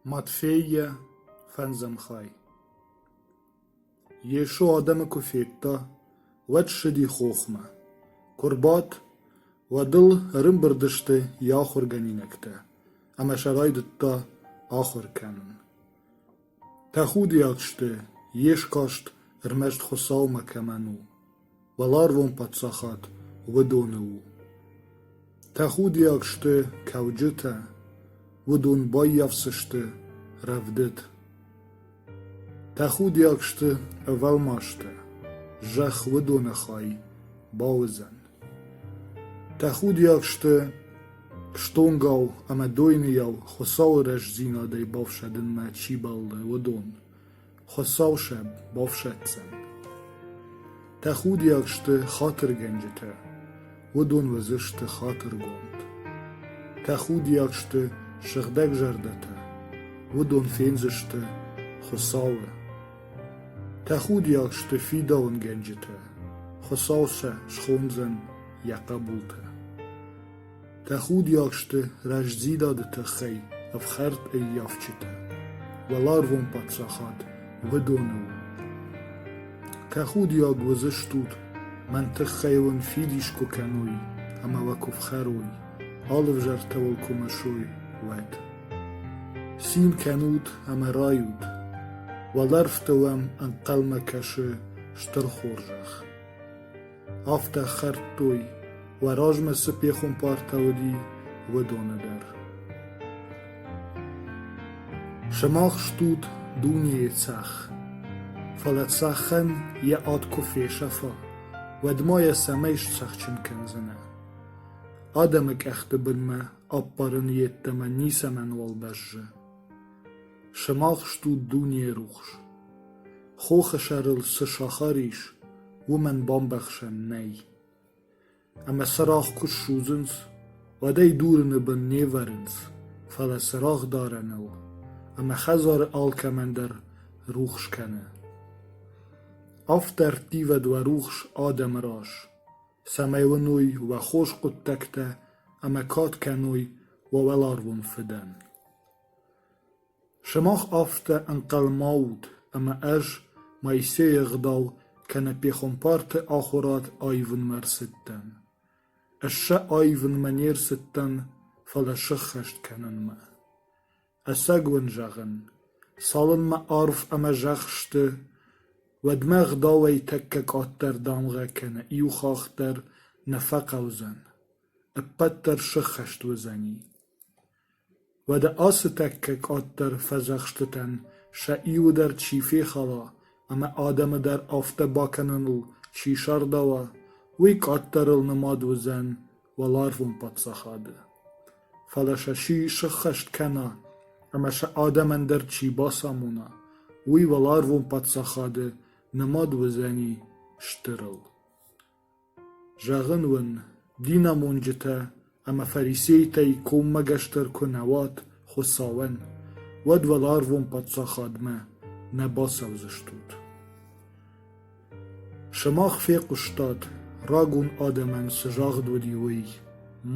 Матфейӕ фӕндзӕмхай Йесо адӕмы куы федта, уӕд ссыди хохмӕ. Куы рбадт, уӕд ыл ӕрымбырд сты йӕ ахуыргӕнинӕгтӕ ӕмӕ сӕ райдыдта ахуыр кӕнын. Тӕхудиаг сты, йе скаст ӕрмӕст Хуыцаумӕ кӕмӕн у. Уӕларвон паддзахад уыдоны у. Тӕхудиаг сты кӕуджытӕ, уыдон баййафдзысты рӕвдыд. Тӕхудиаг сты ӕвӕлмастӕ, зӕхх уыдоны хай бауыдзӕн. Тӕхудиаг сты стонгау ӕмӕ дойныйау Хуыцауы рӕстдзинадӕй бафсӕдынмӕ чи бӕллы, уыдон. Хуыцау сӕм бафсӕддзӕн. Тӕхудиаг сты хатыргӕнджытӕ, уыдон уыдзысты хатыргонд. Тӕхудиаг сты сыгъдӕгзӕрдӕтӕ, уыдон фендзысты Хуыцауы. Тӕхудиаг сты фидауынгӕнджытӕ, Хуыцау сӕ схондзӕн йӕ хъӕбултӕ. Тӕхудиаг сты рӕстдзинады тыххӕй ӕфхӕрд ӕййафджытӕ, уӕларвон паддзахад уыдоны у. Тӕхудиаг уыдзыстут, мӕн тыххӕй уын фидис куы кӕной ӕмӕ уӕ куы фхӕрой, алы взӕртӕ уыл куы мысой, уӕд. Цин кӕнут ӕмӕ райут, уӕлӕрвты уӕм ӕнхъӕлмӕ кӕсы стыр хорзӕх. афтӕ хӕрдтой, уӕ размӕ цы пехуымпартӕ уыди, уыдоны дӕр. Сымах стут дунейы цӕх, фӕлӕ цӕхӕн йӕ ад куы фесӕфа, уӕд ма йӕ цӕмӕй сцӕхджын кӕндзынӕ? Адӕмы къӕхты бынмӕ ӕппарын йеддӕмӕ ницӕмӕнуал бӕззы. Сымах стут дунейы рухс. Хохы сӕрыл цы сахар ис, уымӕн бамбӕхсӕн нӕй. Ӕмӕ цырагъ куы ссудзынц, уӕд ӕй дурыны бын не вӕрынц, фӕлӕ цырагъ дарӕныл ӕмӕ хӕдзары алкӕмӕн дӕр рухс кӕны. Афтӕ ӕрттивӕд уӕ рухс адӕмы раз, цӕмӕй уыной уӕ хорз хъуыддӕгтӕ ӕмӕ кад кӕной уӕ уӕларвон Фыдӕн. Сымах афтӕ ӕнхъӕлмӕ ут, ӕмӕ ӕз Моисейы ӕгъдау кӕнӕ пехуымпарты ахуырад аивынмӕ ӕрцыдтӕн. Ӕз сӕ аивынмӕ не рцыдтӕн, фӕлӕ сыххӕст кӕнынмӕ. Ӕцӕг уын зӕгъын, цалынмӕ арв ӕмӕ зӕхх сты, уӕдмӕ Ӕгъдауӕй тӕккӕ къаддӕр дамгъӕ кӕнӕ иу хахх дӕр нӕ фӕхъӕудзӕн, ӕппӕт дӕр сыххӕст уыдзӕни. Уӕдӕ ацы тӕккӕ къаддӕр фӕдзӕхстытӕн сӕ иуы дӕр чи фехала ӕмӕ адӕмы дӕр афтӕ бакӕныныл чи сардауа, уый къаддӕрыл нымад уыдзӕн уӕларвон паддзахады. Фӕлӕ сӕ чи сыххӕст кӕна ӕмӕ сӕ адӕмӕн дӕр чи бацамона, уый уӕларвон паддзахады нымад уыдзӕни стырыл. Зӕгъын уын, динамонджытӕ ӕмӕ фарисейтӕй коммӕгӕсдӕр куы нӕ уат Хуыцауӕн, уӕд уӕларвон Паддзахадмӕ нӕ бацӕудзыстут. Сымах фехъуыстат, рагон адӕмӕн цы загъд уыди, уый: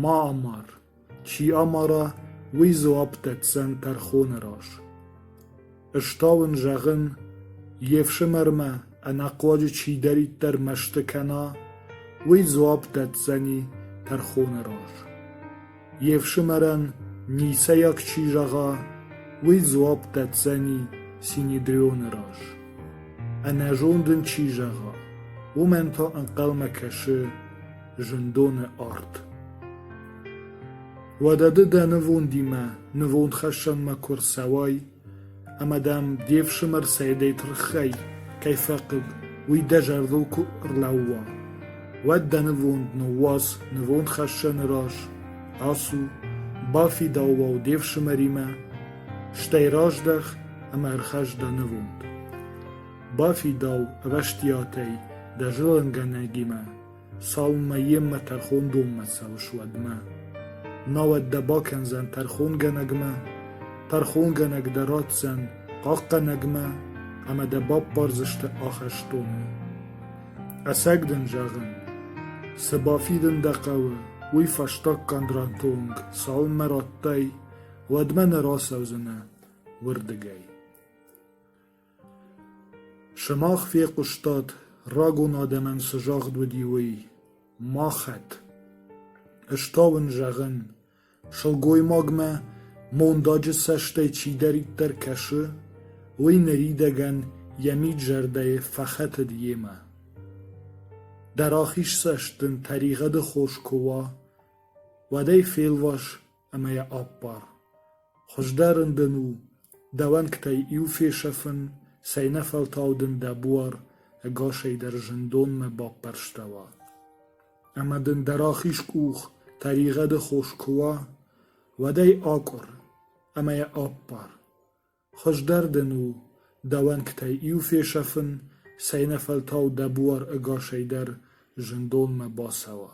«Ма амар!» Чи амара, уый дзуапп дӕтдзӕн тӕрхоны раз. Ӕз та уын зӕгъын, йе фсымӕрмӕ ӕнӕхъуаджы чидӕриддӕр мӕсты кӕна, уый дзуапп дӕтдзӕни тӕрхоны раз. Йе фсымӕрӕн ницӕйаг чи зӕгъа, уый дзуапп дӕтдзӕни Синедрионы раз. Ӕнӕзонд ын чи зӕгъа, уымӕн та ӕнхъӕлмӕ кӕсы зындоны арт. Уӕдӕ ды дӕ нывондимӕ нывондхӕссӕнмӕ куы рцӕуай, ӕмӕ дӕм де фсымӕр Саидӕй тырхӕй кӕй фӕхъыг, уый дӕ зӕрдыл куы ӕрлӕууа, уӕд дӕ нывонд ныууадз нывондхӕссӕны раз, ацу, бафидау уал де фсымӕримӕ, стӕй раздӕх ӕмӕ ӕрхӕсс дӕ нывонд. Бафидау ӕвӕстиатӕй дӕ зылынгӕнӕгимӕ Цалынмӕ йемӕ тӕрхондонмӕ цӕуыс, уӕдмӕ. Науӕд дӕ бакӕндзӕн тӕрхонгӕнӕгмӕ, тӕрхонгӕнӕг дӕ ратдзӕн хъахъхъӕнӕгмӕ ӕмӕ дӕ баппардзысты ахӕстоны. Ӕцӕг дын зӕгъын, цы бафидын дӕ хъӕуы, уый фӕстаггӕнд ратонг, цалынмӕ радтай, уӕдмӕ нӕ рацӕудзынӕ уырдыгӕй. Сымах фехъуыстат, рагон адӕмӕн цы загъд уыди, уый: «Махӕт». Ӕз та уын зӕгъын: сылгоймагмӕ мондаджы цӕстӕй чидӕриддӕр кӕсы, уый ныридӕгӕн йӕ мид-зӕрдӕйы фӕхӕтыд йемӕ. Дӕ рахизцӕст дын тӕригъӕды хос куы уа, уӕд ӕй фелвас ӕмӕ йӕ аппар. Хуыздӕрын дын у, дӕ уӕнгтӕй иу фесӕфын, цӕйнӕфӕлтау дын дӕ буар ӕгасӕй дӕр зындонмӕ баппӕрстӕуа. Ӕмӕ дын дӕ рахиз къух тӕригъӕды хос куы уа, уӕд ӕй акъуыр ӕмӕ йӕ аппар. Хуыздӕр дын у, дӕ уӕнгтӕй иу фесӕфын, цӕйнӕфӕлтау дӕ буар ӕгасӕй дӕр зындонмӕ бацӕуа.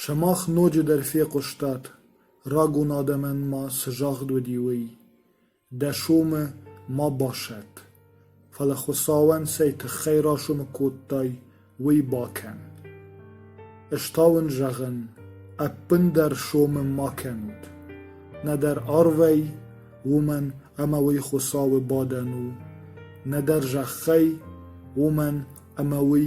Сымах ноджыдӕр фехъуыстат, рагон адӕмӕн ма цы загъд уыди, уый: «Дӕ сомы ма басӕтт, фӕлӕ Хуыцауӕн цӕй тыххӕй расомы кодтай, уый бакӕн. Ӕз та уын зӕгъын: ӕппындӕр сомы ма кӕнут, нӕдӕр арвӕй, уымӕн ӕмӕ уый Хуыцауы бадӕн у, нӕдӕр зӕххӕй, уымӕн ӕмӕ уый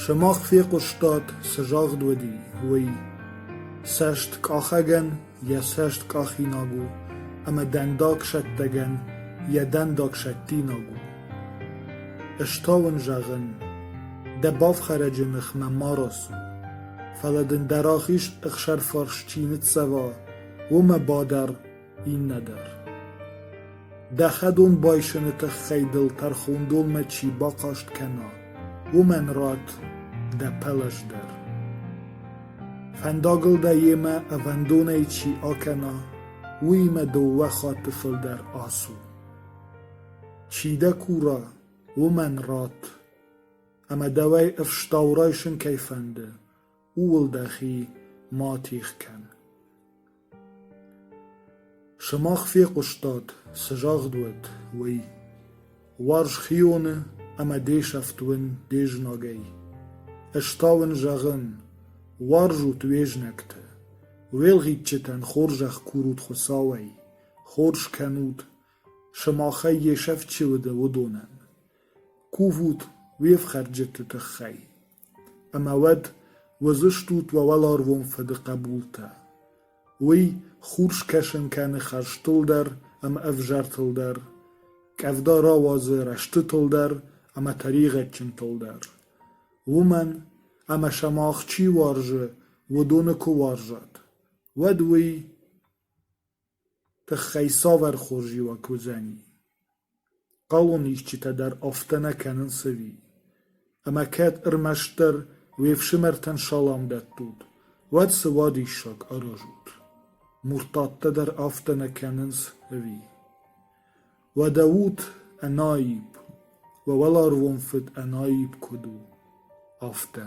Сымах фехъуыстат, цы загъд уыди, уый: цӕст къахӕгӕн йӕ цӕст къахинаг у, ӕмӕ дӕндагсӕттӕгӕн йӕ дӕндагсӕттинаг у. Ӕз та уын зӕгъын: дӕ бафхӕрӕджы ныхмӕ ма рацу, фӕлӕ дын дӕ рахиз ӕхсӕрфарс чи ныццӕва, уымӕ бадар Иннӕдӕр. Дӕ хӕдон байсыны тыххӕй дыл тӕрхондонмӕ чи бахъаст кӕна, уымӕн ратт дӕ пӕлӕз дӕр. Фӕндагыл дӕ йемӕ ӕвӕндонӕй чи акӕна, уыимӕ дыууӕ хатты фылдӕр ацу. Чи дӕ кура, уымӕн ратт, ӕмӕ дӕуӕй ӕфстау райсын кӕй фӕнды, ууыл дӕхи ма тигъ кӕн. Сымах фехъуыстат, цы загъд уыд, уый: Уарз хионы ӕмӕ де сӕфт уын де знагӕй. Ӕз та уын зӕгъын: уарзут уе знӕгты, уӕлгъитджытӕн хорзӕх курут Хуыцауӕй, хорз кӕнут, сымахӕй йе сӕфт чи уыд, уыдонӕн. Кувут уе фхӕрджыты тыххӕй, ӕмӕ уӕд уыдзыстут уӕ уӕларвон Фыды хъӕбултӕ. Уый хурс кӕсын кӕны хӕрзтыл дӕр ӕмӕ ӕвзартыл дӕр, къӕвда рауадзы рӕстытыл дӕр ӕмӕ тӕригъӕдджынтыл дӕр. Уымӕн, ӕмӕ сымах чи уарзы, уыдоны куы уарзат, уӕд уый Тыххӕй цавӕр хорзиуаг уыдзӕни? Хъӕуон исчитӕ дӕр афтӕ нӕ кӕнынц ӕви? Ӕмӕ кӕд ӕрмӕстдӕр уе фсымӕртӕн салам дӕттут, уӕд цы вадиссаг аразут? Муртаттӕ дӕр афтӕ нӕ кӕнынц ӕви? Уӕдӕ ут ӕнаипп, уӕ уӕларвон фыд ӕнаипп куыд у, афтӕ.